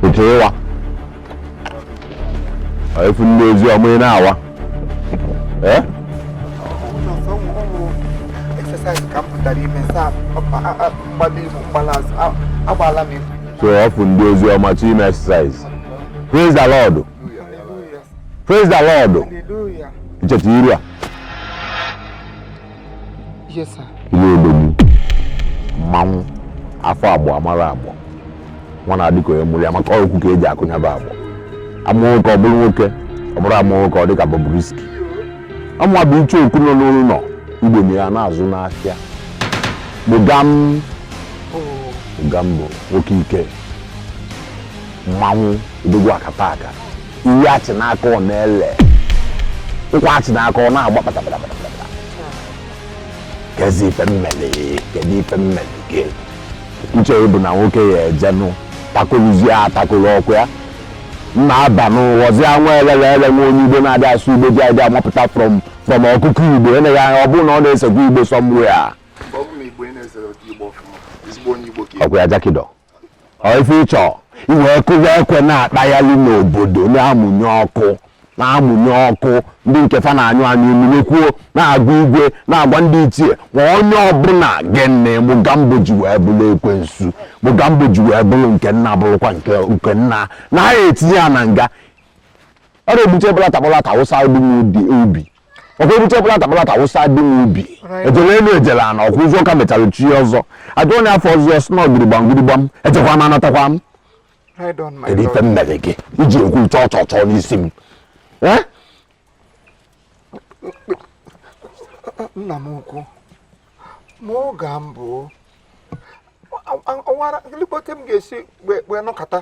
Otu ịwa efu ndị ozi ọma ị na-awa ee so ọ fụ ndị ozi ọma chi ime exercise praise the lord Praise the Lord. Hallelujah. Ncheta iru a. Yes, sir. Ile odogwu. Mmanwụ. Afụ agbọ amara agbọ. Nwa na-adị ka onye mụrụ ya maka ọkụ ka eji akụnyaba agbọ. Amụ nwoke ọ bụrụ nwoke ọ bụrọ amụ nwoke ọ dị ka Bobrisky. Ọmụwa bụ icheoku nọ n'ụlọ ugbene ya na-azụ n'ahịa. Mugam. Mugambo nwoke ike. Mmanwụ odogwu akataka. iwe achị n'aka ọ na-ele nkwa achị n'aka ọ na-agba kpatakpatakpata kezi ife m meli kedu ife m meli gị uche bụ na nwoke ya ejenụ takụrụzie atakụrụ ọkụ ya mma aba n'ụghọzie nwa elele ele nwa onye igbo na-adị asụ igbo ji adị amapụta from from ọkụkọ igbo eleghị anya ọ bụrụ na ọ na-esekwa igbo somewhere ọkụ ya jakidọ ife ịchọ iwe kụwa ekwe na-akpaghalị n'obodo na-amụnye ọkụ na-amụnye ọkụ ndị nke fa na-anyụ anyụ mmiri kwuo na-agwa igwe na-agwa ndị ichie ma onye ọbụla gịnị Mugambo ji wee bụrụ ekwensu Mugambo ji wee bụrụ nke nna bụrụkwa nke nna na-etinye ya na nga ọ na-ebute bulata bulata wụsa dị n'ubi ọkwa ebute bulata bulata wụsa dị n'ubi ejele elu ejele ana ọkwa ụzọ ka mechara chi ọzọ ajụ onye afọ ọzọ si na ogirigbam girigbam ejekwa m anatakwa m kedu ife m mere gị iji ekwu chọọ chọọ chọọ n'isi m nna m ukwu ma ọ ga m bụ ọwara lekpọta m ga-esi wee nọkọta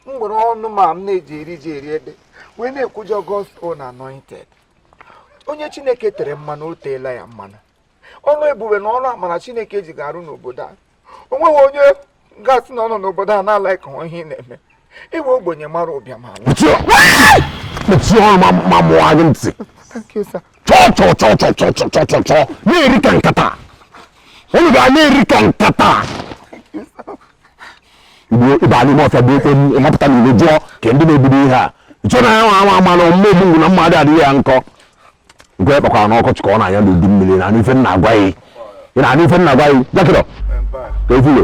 m were ọnụ m a m na-eji eri ji eri ede wee na-ekwujọ gospel na anointed onye chineke tere mmanụ o teela ya mmanụ ọrụ ebube na ọrụ amara chineke ji gị arụ n'obodo a o nweghị onye ga-asị na ọ nọ n'obodo a na-ala ka ihe ị na-eme iwe ogbenye mara ụbịam na-eri ka nkata unu ga na-eri ka nkata Igbo ịba n'ime ọfịa kụọ ekwe ịmapụta n'ilo jụọ kee ndị na-ebido ihe a nchọ na ya nwa ama ama na mma ogbu na mmadụ adịghị ya nkọ nkụ ọ kpakwara n'ọkọchị ka ọ na-anya n'udu mmiri ị na-anụ ife m na-agwa ya ị na-anụ ife m na-agwa ya jakịrọ ka efulo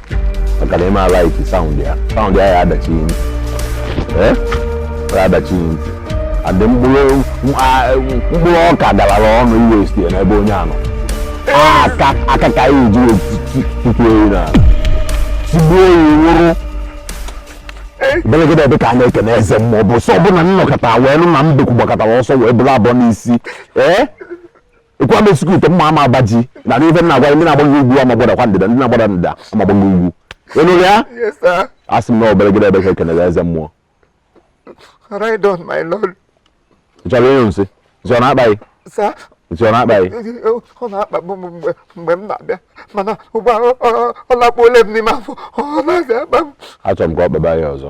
maka na ịma alike sound ya sound ya ya adachi ntị eh? ya adachi ntị adị mkpụrụ ọka galara ọnụ iwe site n'ebe onye anọ aka ka anyị ji tutu ewu na tigbuo ya nwụrụ belegede ebe ka a na-ekene eze mmụọ bụ sọ ọbụla nnọkọta wee nụ na mbekwu gbakọtara ọsọ wee bụrụ abụọ n'isi ee eh? ekwe ama esikwu ite mma ama agbaji na n'ife nna agwa ndị na-agbago ugwu ama agbadakwa ndịda ndị na-agbada ndịda ama agbago ugwu ịnụrụ ya asị m na ọ belegede ebe ka ekenere eze mmụọ ị chọrọ ịnyụ nsị nsị ọ na-akpa gị nsị ọ na-akpa gị ọ na-akpagbu m mgbe mgbe m na-abịa mana ugbu a ọ lakpuola m n'ime afọ ọ naghịzi akpa m achọrọ m ka ọ kpaba ya ọzọ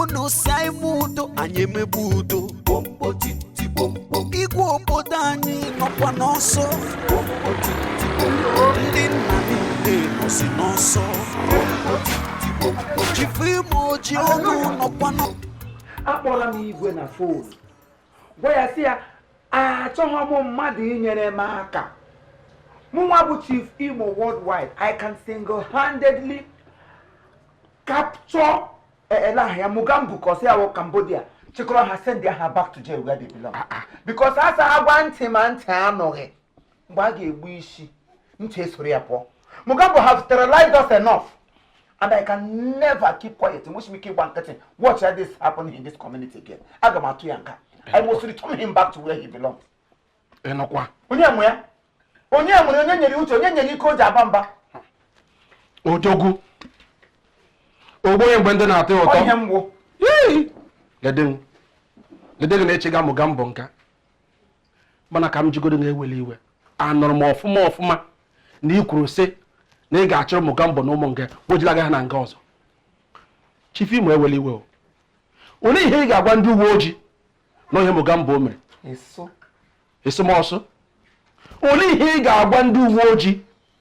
unu sị anyị mee udo anyị emebe udo igwe obodo anyị nọkwa n'ọsọ ndị nna niile nọsi n'ọsọ chief imo oji ọnụ nọkwa n'ọsọ akpọla m igwe na fon gwa ya sị ya achọghị m mmadụ inyere m aka mụnwa bụ chief imo worldwide i can single-handedly capture elahia mugambu kọsị ya wụ cambodia chịkọrọ ha send ha back to jail where they belong ah, ah. because a sị a gwa ntị ma ntị anụghị mgbe a ga-egbu isi ntị esoro ya pụọ Mugambo has terrorized us enough and I can never keep quiet enwezighị m ike ịgba nkịtị. Watch how this happen in this community again. Aga m atụ ya nga. I must return him back to where he belongs. Ịnụkwa. Onye nye ya? Onye nye onye nyere uche onye nyere ike o ji aba mba. Odogwu. Ogbu onye mgbe ndụ na-atọ ụtọ. Onye mgbu. Yee. Gede m. Gede gị na-achịga Mugambo nga. mana ka m jụgodu na ewele iwe anụrụ m ọfụma ọfụma na ị kwuru sị na ị ga-achọrọ Mugambo na ụmụ nga wejilaga ha na nga ọzọ chief imo ewele iwe o olee ihe ị ga-agwa ndị uwe ojii na ọ ihe Mugambo mere esomọsụ olee ihe ị ga-agwa ndị uwe ojii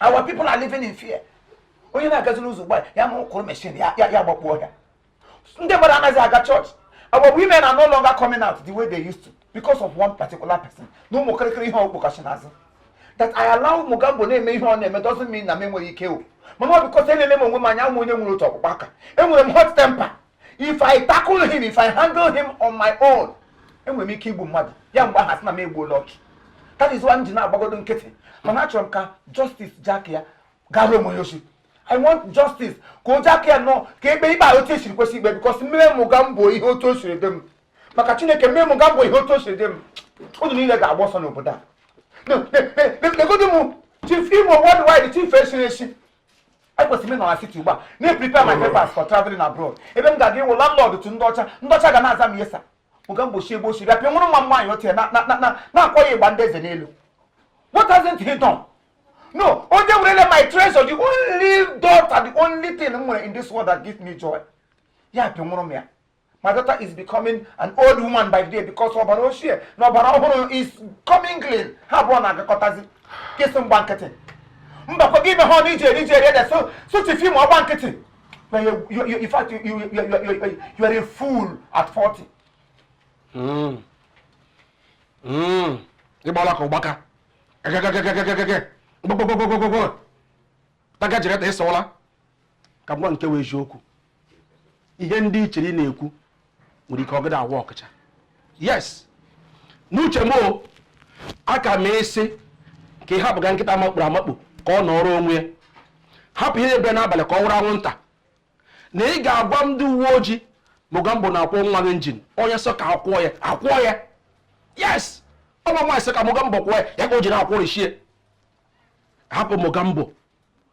our people are living in fear onye na-agazi n'ụzọ ugbu a ya ma ụkụrụ machine ya agbakpuo ọhịa ndị mmadụ anaghịzi aga church our women are no longer coming out the way they used to because of one particular person na ụmụ kịrịkịrị ihe ọ kpọkachi n'azụ that I allow Mugambo na-eme ihe ọ na-eme doesn't mean na m enweghị ike o mana ọ because elele m onwe m anya awụ m onye nwere otu ọkpụkpụ aka enwere m hot temper if i tackle him if i handle him on my own enwere m ike igbu mmadụ ya mgbe ahụ a sị na m egbuola ọchụ that is why m ji na-agbagodu nkịtị mana achọrọ m ka justice jack ya gara onye oshi i want justice ka o jack ya nọ ka ekpe ikpe a otu esiri kwesị ikpe because m mee mugambo ihe otu o siri dị m maka chineke m mee mugambo ihe otu o siri dị m unu niile ga-agba ọsọ n'obodo a negodu m chief imo worldwide chief esiri esi ekwesịrị m ịnọ na city ugbu a na-eprepare my papers for traveling abroad ebe m ga-aga ịwụ landlord to ndị ọcha ndị ọcha ga na-aza m yes sir mugambo shi ebe o shiri apịa nwụrụ nwa m nwaanyị otie na-akpọ ya ịgba ndị eze n'elu what hasn't he done no onye werele my treasure the only daughter the only thing m nwere in this world that gives me joy ya apịa nwụrụ m ya my daughter is becoming an old woman by the day because ọbara ochie na ọbara ọhụrụ is coming clean ha abụọ na-agakọtazi gị sị m gba nkịtị mbakwa gị mehee ọnụ i ji eri ji eri ede sị chief imo gba nkịtị na in fact you, you, you, you, you are a fool at 40 hmm. Hmm. ịgbala ka ụgbaka egegegegegegege gbogbogbogbogbogbo taka jiri ta ịsọwala ka m gwa gị nke wụ eziokwu ihe ndị ị chịrị na-ekwu nwere ike ọgịda awa ọkụcha yes n'uche m o aka m ịsị ka ị hapụga nkịta makpuru amakpu ka ọ nọrọ onwe ya hapụ ihe bere n'abalị ka ọ wụrụ anwụnta na ị ga-agwa ndị uwe ojii mugambo na-akwụ nwa gị injin onye sọ ka akwụọ ya akwụọ ya yes ọ bụ nwaanyị sọ ka mugambo kwụọ ya ya ka o ji na-akwụrịchie hapụ mugambo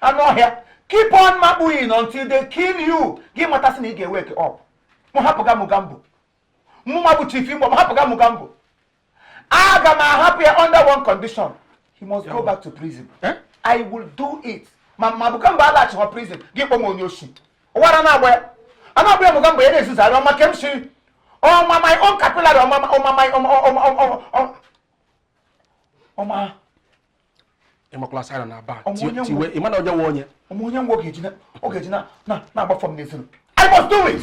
anụ ọhịa keep on makpuing until they kill you gị matasị na ị ga-ewake up mụ hapụga mugambo mụnwa bụ chief imo m hapụga mugambo aga m ahapụ ya under one condition he must go back to prison eh? i will do it ma mugambo alaghachikwa prison gị kpọọ m onye oshi ụwara na-agba ya a na-agba ya bụ mugambo na-ezuzarị ọma ke m si ọma my own capillary ịmakwala saịna na aba tiwe ịmana onye nwe onye onye nwe ọ ga-eji na-agba fọm n'ezinu I must do it!